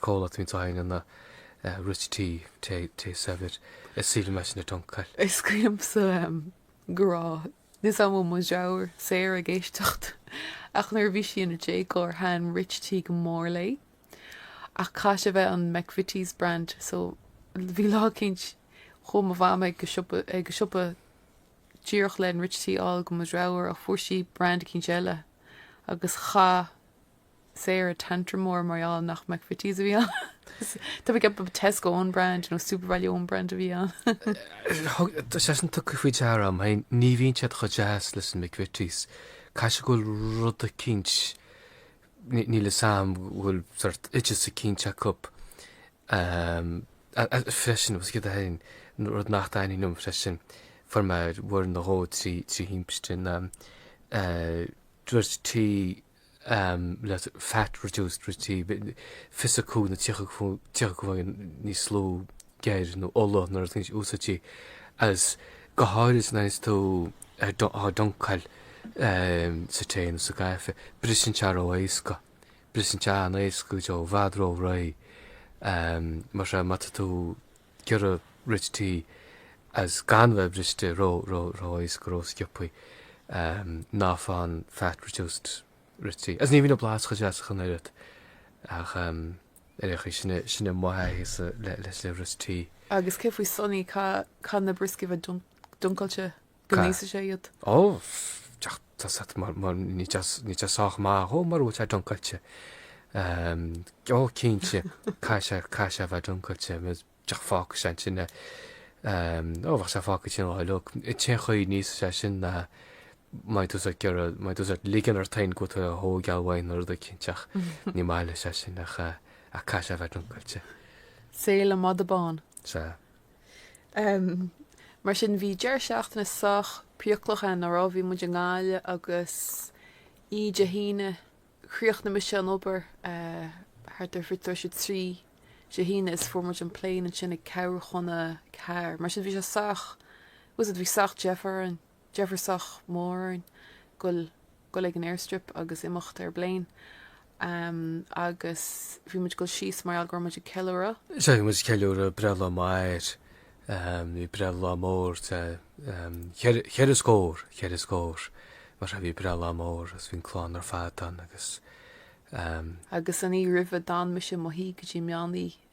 comhlacht faoin tsaighne na Rich Tea, tae saibhir, is maith liom é sin a duncáil. Is cuimhin liomsa go raibh níl fhios a'm bhfuil mo dhreabhar, Sarah, ag éisteacht ach nuair a bhí sí ina déagóir thaithin Rich Tea go mór léi ach caithfidh sé bheith an McVitie's brand so bhí lá eicínt chuaigh mo mham ag go siopa díreach len Rich Tea a fháil go mo dhreabhar ach fuair sí brand eicínt eile agus chaith Sarah tantrum mór mar gheall nach McVitie's a bhí ann. Tá mé ag ceapadh Tesco own brand nó SuperValu own brand a bhí ann. Tá sé sin tugtha faoi deara a'm féin, ní bhíonn siad chomh deas leis an McVitie's. Caithfidh sé go bhfuil rud eicínt, níl fhios a'm go bhfuil sórt oideas eicínt acu freisin agus céard é féin, rud nach dtaitníonn liom freisin, fuair muid uair nó dhó trí thimpiste na, Rich Tea le fat reduced Rich Tea fiche cúig nó tríocha faoin gcéad níos lú geir nó ola nuair atá níos úsáidí agus go háirid nuair is tú á duncáil sa tae nó sa gcaife. Briseann sé ró éasca. Briseann sé an-éasca go deo, i bhfad ró réidh. Mar sin má tá tú. ag iarraidh Rich Tea is gan bheith briste ró ró ró éasca ró sciobthaí ná faigh an fat reduced Rich Tea is ní bhíonn an blas chomh deas ach an oiread ach ar aon chaoi sin sin é mo thaithíse leis le Rich Tea. Agus cé faoi Sonny? Caithfidh caithfidh na brioscaí a bheith duncáilte go n-íosfaidh sé iad. Ó, níl sé sách maith dhó mura bhfuil sé duncáilte. Ó, cinnte, caithfidh sé a bheith duncáilte, fágfaidh sé ansin é. Ó, bheadh sé fágtha ansin an lá uilig. An t-aon chaoi a n-íosfadh sé é sin ná mbeadh tú ag ligean ort féin go bhfuil tú ag goil á bhaint uaidh nó rud eicínt, ach ní maith leis é sin, ach caithfidh sé a bheith duncáilte. Sea, le madadh bán. Sea. Mar sin, bhí deireadh seachtaine sách priaclach a'inn, nach raibh? Bhí muid i nGaillimh agus í Dé hAoine, chríochnaigh mise an obair thart ar fiche tar éis a trí Dé hAoine is fuair muid an plane ansin ag ceathrú chun a ceathair. Mar sin, bhí sé sách, tá fhios a'd, bhí sách deifir orainn. Deifir sách mór orainn dhul dhul ag an airstrip agus imeacht ar an bpléin agus bhí muid ag dul síos mar gheall go raibh muid ag ceiliúradh. Bhí muid ag ceiliúradh breithlá m'athar, bhí breithlá mór tá cheithre cheithre scór cheithre scór mar sin bhí breithlá mór agus bhí an chlann ar fad ann agus. Agus an oíche roimhe d'fhan mise i mo shuí go dtí meán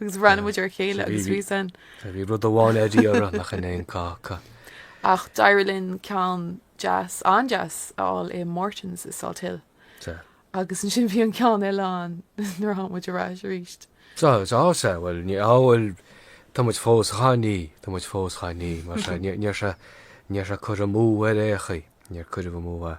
agus bhreathnaigh muid ar a chéile agus bhí san. Bhí bhí rud amháin ar iarraidh nach raibh aon cáca. Ach d'éirigh linn ceann deas, an-deas, a fháil i Morton's i Salthill. Sea. Agus ansin bhí an ceann eile ann nuair a tháinig muid ar ais arís. Sea, sea, sea, bhuel, ní, á, bhuel, tá muid fós dhá ní, tá muid fós dhá ní, mar sea, ní- níor sé, níor sé cur amú ar aon chaoi, níor cuireadh amú é,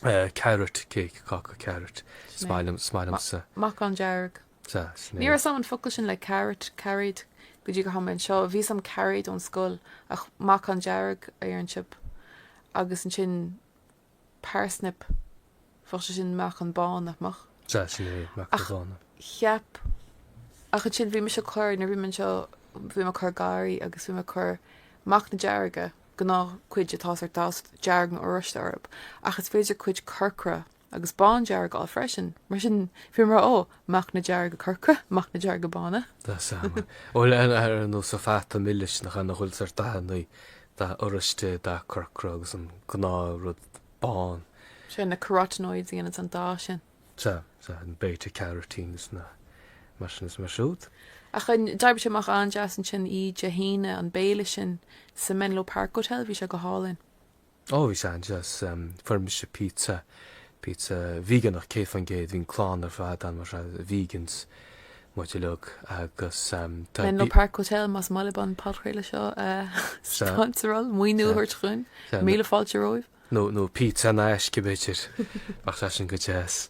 eh, carrot cake, cáca carrot, Sin é. smailm, smailmse. Meacan dearg. Sea, sin é. Ní raibh a fhios agam an focal sin le carrot, cairéad, go dtí gur tháinig mé anseo. Bhí a fhios agam cairéad ón scoil, ach meacan dearg a deir an siopa, agus ansin parsnip, bheadh sé sin meacan bán, nach mbeadh? Sea, sin é, meacan bán. Ach cheap, ach ansin bhí mise ag cur, nuair a bhí mé anseo, bhí mé ag cur garraí agus bhí mé ag cur meacna dearga, gnáthchuid atá sórt deas dearg nó oráiste orthu, ach is féidir cuid corcra a agus bándearg a fháil freisin. Mar sin, bhíomar, ó, meacna dearga corcra, meacna dearga bána. Tá sé ana, bhuel, ana ar nós an fata milis nach ea, an bhfuil a fhios agat, dath buí, dath oráiste, dath corcra agus an gnáthrud bán. Sea, na carotenoids a dhéananns an dath sin. Sea, sea, na beta carotenes nó mar sin is mar siúd. Ach d'oibrigh sé amach an-deas ansin oíche Dé hAoine, an béile sin sa Menlo Park Hotel, bhí sé go hálainn. Ó bhí sé an-deas fuair mise pizza, pizza véigeanach 100%, bhí an clann ar fad ann mar is vegans muid uilig agus tá Menlo Park Hotel más maith libh an podchraoladh seo a sponsoráil, maoiniú a thabhairt dhúinn, míle fáilte romhaibh. nó nó pizza in aisce b'fhéidir, bheadh sé sin go deas.